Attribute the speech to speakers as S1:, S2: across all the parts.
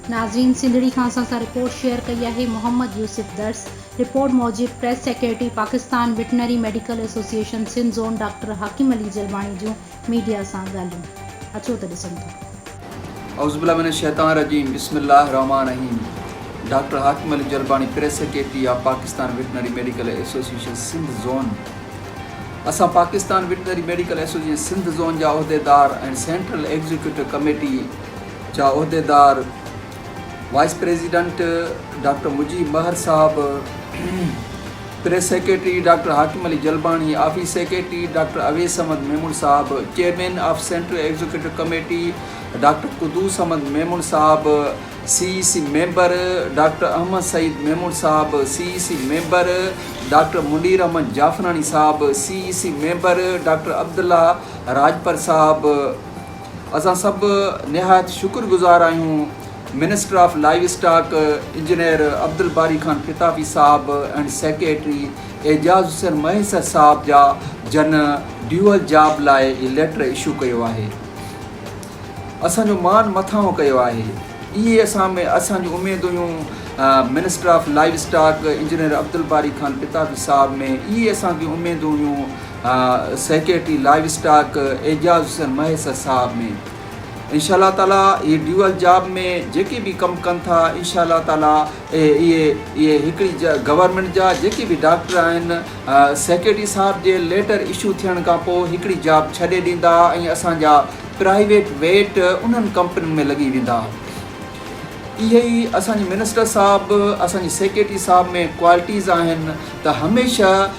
S1: ناظرين سنڌڙي کان اسان سان رپورٽ شيئر ڪئي آهي محمد يوسف درس رپورٽ موجب press secretary Pakistan veterinary medical association Sindh zone doctor Hakim Ali Jalbani جون ميڊيا سان ڳالهيون اچو ته ڏسون ٿا. اعوذبالله من الشيطان
S2: الرجيم بسم الله الرحمٰن الرحيم doctor Hakim Ali Jalbani press secretary of Pakistan veterinary medical association Sindh zone اسان Pakistan veterinary medical association Sindh zone جا عهديدار ۽ سينٽرل ايگزيڪيوٽو ڪميٽي جا عهديدار وائيس پريزيڊنٽ ڊاڪٽر مجيب مهر صاحب، press secretary doctor Hakim Ali Jalbani, office secretary doctor Awais Ahmed Memon صاحب، chairman of central executive committee doctor Quddus Ahmed Memon صاحب، C E C member doctor Ahmed Saeed Memon صاحب، C E C member doctor Munir Ahmed Jafrani صاحب، C E C member doctor Abdullah Rajpar صاحب، اسان سڀ نهايت شڪر گذار آهيون minister of livestock engineer Abdul Bari Khan Fatafi صاحب ۽ سيڪريٽري اعجاز حسين مهيسر صاحب جا جن ڊيوئل جاب لاء هي ليٽر اشو ڪيو آهي اسان جو مان مٿاهون ڪيو آهي اهي اسان ۾ اسان جون اميدون هيون minister of livestock engineer Abdul Bari Khan Fatafi صاحب ۾ اهي اسان جون اميدون هيون secretary livestock Ejaz Hussain Mahes صاحب ۾ انشاء الله تعاليٰ اهي ڊيول جاب ۾ جيڪي به ڪم ڪن ٿا انشاء الله تعاليٰ اهي اهي هڪڙي گورنمنٽ جا جيڪي به ڊاڪٽر آهن سيڪريٽري صاحب جي ليٽر اشو ٿيڻ کان پوء هڪڙي جاب ڇڏي ڏيندا ۽ اسانجا پرائيويٽ ويٽ انهن ڪمپنين ۾ لڳي ويندا اهي ئي اسانجي منسٽر صاحب اسانجي سيڪريٽري صاحب ۾ ڪوالٽيز آهن ته هميشه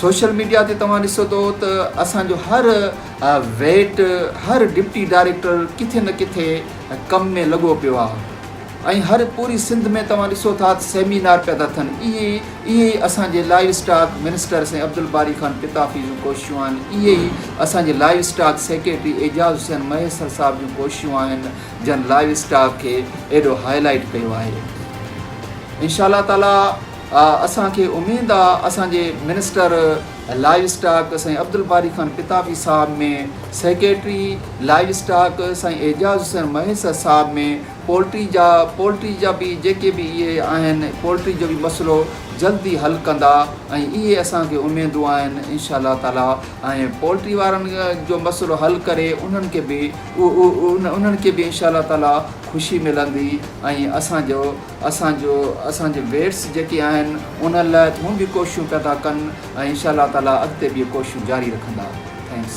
S2: سوشل ميڊيا تي توهان ڏسو ٿو ته اسان جو هر ويٽ هر ڊپٽي ڊائريڪٽر ڪٿي نه ڪٿي ڪم ۾ لڳو پيو آهي ۽ هر پوري سنڌ ۾ توهان ڏسو ٿا ته سيمينار پيا ٿا ٿين اهي اهي ئي اسان جي لائيو اسٽاڪ منسٽر سائين عبدالباري خان پتافي جون ڪوششون آهن اهي ئي اسان جي livestock secretary Ejaz Hussain Mahesar صاحب جون ڪوششون آهن جن لائيو اسٽاڪ کي ايڏو هائي لائيٽ ڪيو آهي انشاء الله تعالي اسان کي اميد آ اسان جي منسٽر لائيو اسٽاڪ سائين عبدالباري خان پتافي صاحب ۾ سيڪريٽري لائيو اسٽاڪ سائين اعجاز حسين مهيسر صاحب ۾ پولٽري جا پولٽري جا به جيڪي به اهي آهن پولٽري جو به مسئلو جلدي حل ڪندا ۽ اهي اسان کي اميدون آهن انشاء الله تعالي ۽ پولٽري وارن جو مسئلو حل ڪري انهن کي به انهن کي به انشاء الله تعالي خوشي ملندي ۽ اسان جو اسان جو اسان جي ويٽس جيڪي آهن ان لاء هون به ڪوششون پيا ٿا ڪن ۽ انشاء الله تعالي اڳتي به اهي ڪوششون جاري رکندا ٿينڪس.